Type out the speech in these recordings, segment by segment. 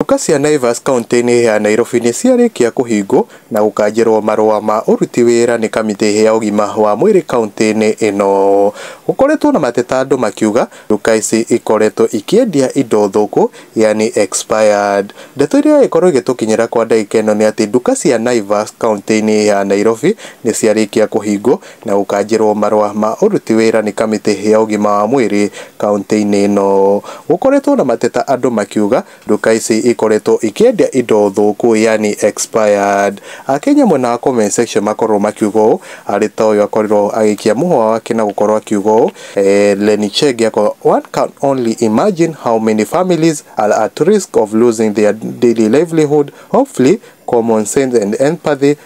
Nduka cia Naivas kauntĩ-inĩ ya Nairobi nĩ ciarĩkia kũhingwo na gũkanjĩrwo marũa ma ũruti wĩra nĩ kamĩtĩ ya ũgima wa mwĩrĩ kauntĩ-inĩ ĩno. Gũkoretwo na mateta andũ makiuga nduka ici ikoretwo ikĩendia indo thũku yaani expired. Ndeto iria ĩragĩkorwo ĩgĩtũkinyĩra kwa ndagĩka ĩno nĩ atĩ nduka cia Naivas kauntĩ-inĩ ya Nairobi nĩ ciarĩkia kũhingwo. na gũkanjĩrwo marũa ma ũruti wĩra nĩ kamĩtĩ ya ũgima wa mwĩrĩ kauntĩ-inĩ ĩno. Gũkoretwo na mateta andũ makiuga nduka ici ikoretwo ikĩendia indo thũku yaani expired. Akenya mwena wa comment section makorwo makiuga ũũ, arĩ ta ũyũ akorirwo agĩikia mũhũa wake na gũkorwo akiuga ũũ, Lenny Chege akorwo one can only imagine how many families are at risk of losing their daily livelihood, hopefully common sense and empathy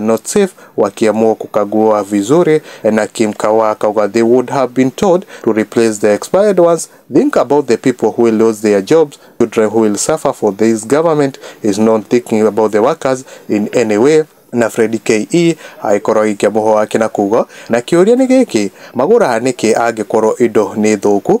Notsif wakiamua kukagua vizuri na Kim Kawa akauga they would have been told to replace the expired ones. Think about the people who will lose their jobs, children who will suffer for this government is not thinking about the workers in any way na Fred KE agĩkorwo agĩikia mũhwa wake na kuga na kĩũria nĩ gĩkĩ magũraga nĩkĩ angĩkorwo indo nĩ thũku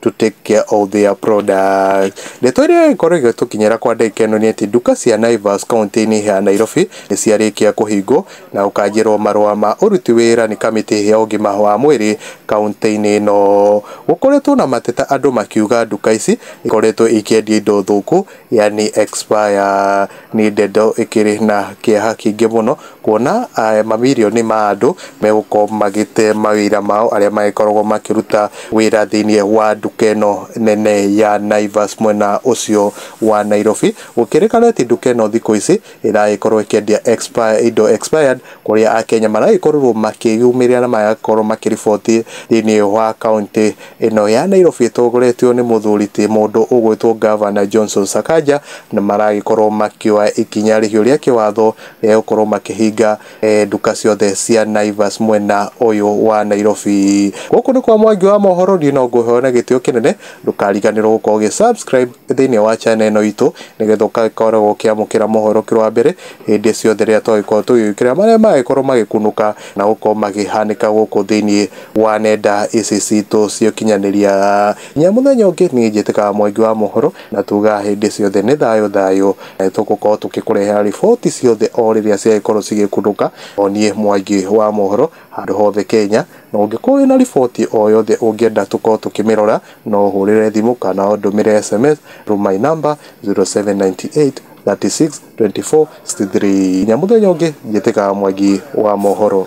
to take care of their products. Ndeto ĩrĩa ĩgĩkorwo ĩgĩtũkinyĩra kwa ndagĩka ĩno nĩ atĩ nduka cia Naivas kaũntĩ-inĩ ya Nairobi nĩ ciarĩkia kũhingwo na ũkanjĩrwo marũa ma ũruti wĩra nĩ kamĩtĩ ya ũgima wa mwĩrĩ kaũntĩ-inĩ ĩno. Gũkoretwo na mateta andũ makiuga nduka ici ikoretwo ikĩendia indo thũku yaani expire nĩ ndeto ĩkĩrĩ na kĩeha kĩingĩ mũno, kuona mamirioni ma andũ megũkorwo magĩte mawĩra mao arĩa magĩkoragwo makĩruta wĩra thĩinĩ wa nduka ĩno nene ya Naivas mwena ũcio wa Nairobi, gũkĩrĩkana atĩ nduka ĩno thikũ ici... ĩragĩkorwo ĩkĩendia expire indo expired, kũrĩa Akenya maragĩkorwo makĩyumĩria na magagĩkorwo makĩriboti thĩiniĩ wa kaũntĩ ĩno ya Nairobi ĩtongoretio nĩ mũthuri ti mũndũ ũgwĩtwo Governor Johnson Sakaja, na maragĩkorwo makĩoya ikinya rĩhiũ rĩa kĩwatho rĩa gũkorwo makĩhinga nduka ciothe cia Naivas mwena ũyũ wa Nairobi. Gũkũ nĩ kwa Mwangi wa Mohoro, niĩ no ngũhe ona gĩtĩo kĩnene, ndũkariganĩrwo gũkorwo ũgĩ subscribe. thĩinĩ wa channel ĩno itũ nĩgetha ũgakoragwo ũkĩamũkĩra mohoro ũkĩrĩ wa mbere hĩndĩ ciothe rĩrĩa twagĩkorwo tũgĩgĩkĩra marĩa magĩkorwo magĩkunũka na gũkorwo magĩhanĩka gũkũ thĩinĩ wa nenda ici citũ cia ũkinyanĩria. Nginya mũthenya ũngĩ niĩ njĩtĩkaga Mwangi wa mohoro na tugaga hĩndĩ ciothe nĩ thayũ thayũ na nĩ tũgũkorwo tũgĩkũrehera riboti ciothe o rĩrĩa ciagĩkorwo cigĩkunũka. O niĩ Mwangi wa mohoro. Handũ hothe Kenya, na ũngĩkorwo wĩna riboti o yothe ũngĩenda tũkorwo tũkĩmĩrora, no ũhũrĩre thimũ kana ũndũmĩre sms through my number 0798 36 24 63. Nginya mũthenya ũngĩ, njĩtĩkaga Mwangi wa mohoro.